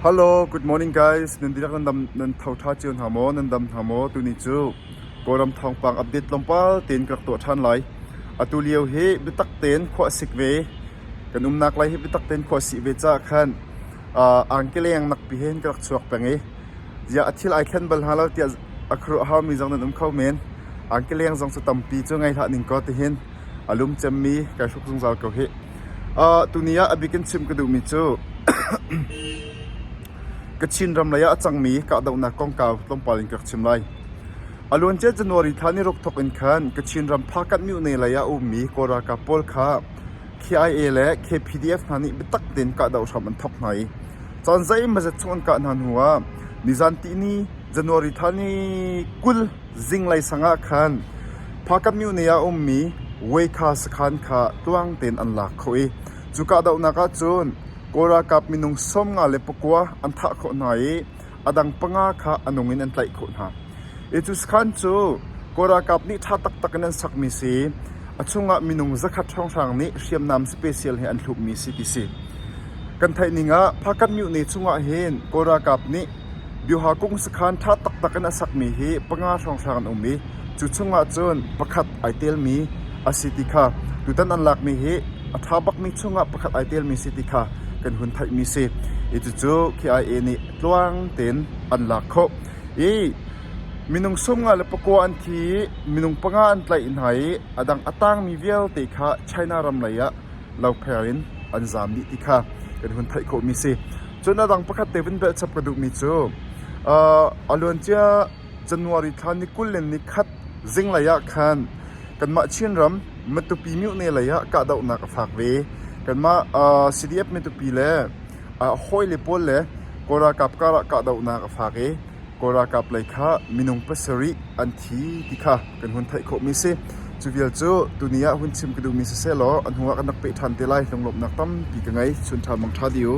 Hello, good morning guys. Nan dihlak nan tho ṭha cio hna maw? Nan dam hna maw? Tuni cu Kawlram thawngpang update tlawmpal tein ka rak tuah ṭhan lai. Atu lio hi biatak tein khua a sik ve. Kan umnak lai hi biatak tein khua a sih ve caah khan uh, angkeleng nakpi hen ka rak chuak peng i ziah a thil ai thlen bal hna lo tiah a khuaruah haumi zong nan um kho men. Angkeleng zong cu tampi cu ngei hlah ning kaw tihin a lum cemmi kai hruk zungzal ko hih. Uh, tuni ah a bik in chimh ka duhmi cu Kachin ram lei ah a cangmi kahdohnak kongkau tlawmpal in ka rak chim lai. A luancia January thla niruk thawk in khan Kachin ram Phakat Myone lei ah a ummi Kawl ralkap pawl kha KIA le KPDF hna nih biatak tein kahdoh hram an thawk hna i caan zeimazat chung an kah hna hnu ah nizan tihni January thla ni kul Zinglei sangah khan Phakamyuni ah a ummi Weikha sakhan kha tluang tein an lak khawh i cuka dohnak ah cun Kawl ralkap minung sawmnga le pakua an thah khawh hna i a dang panga kha a nung in an tlaih khawh hna. Hi cu sakhan cu Kawl ralkap nih ṭha taktak in an sakmi si i a chungah minung zakhat hrawnghrang nih hriamnam special he an hlukmi si ti si. Kan theih ning ah Phakamyuni chungah hin Kawl ralkap nih Biaha kung sakhan ṭha taktak in a sakmi hi panga hrawnghrang an um i cu chungah cun pakhat ai telmi a si ti kha tutan an lakmi hi a ṭha bakmi chungah pakhat ai telmi si ti kha kan hun theihmi a si. I cucu KIA nih tluang tein an lak khawh. I minung sungah le pakua an thi i minung panga an tlaih hna i a dang a tangmi vialte kha China ram leiah lopheng in an zaam dih ti kha kan hun theih khawhmi si. Cun a dang pakhat te vun belhchap ka duhmi cu a luancia January thla ni kul le ni khat zinglei ah khan kanmah Chinram Matupi Myohne lei ah kahdohnak a fak ve. Kanmah CDF Matupi le hawi le pawl le Kawl ralkap karah kahdohnak a fak i Kawl ralkap lei kha minung pasarih an thi ti kha kan hun theih khawhmi si. Cu vial cu tuni ah hun chim ka duhmi siseh law a hnuah kan rak peh ṭhan te lai. Lunglawmhnak tampi ka ngei. Chun ṭha mang ṭha dih u.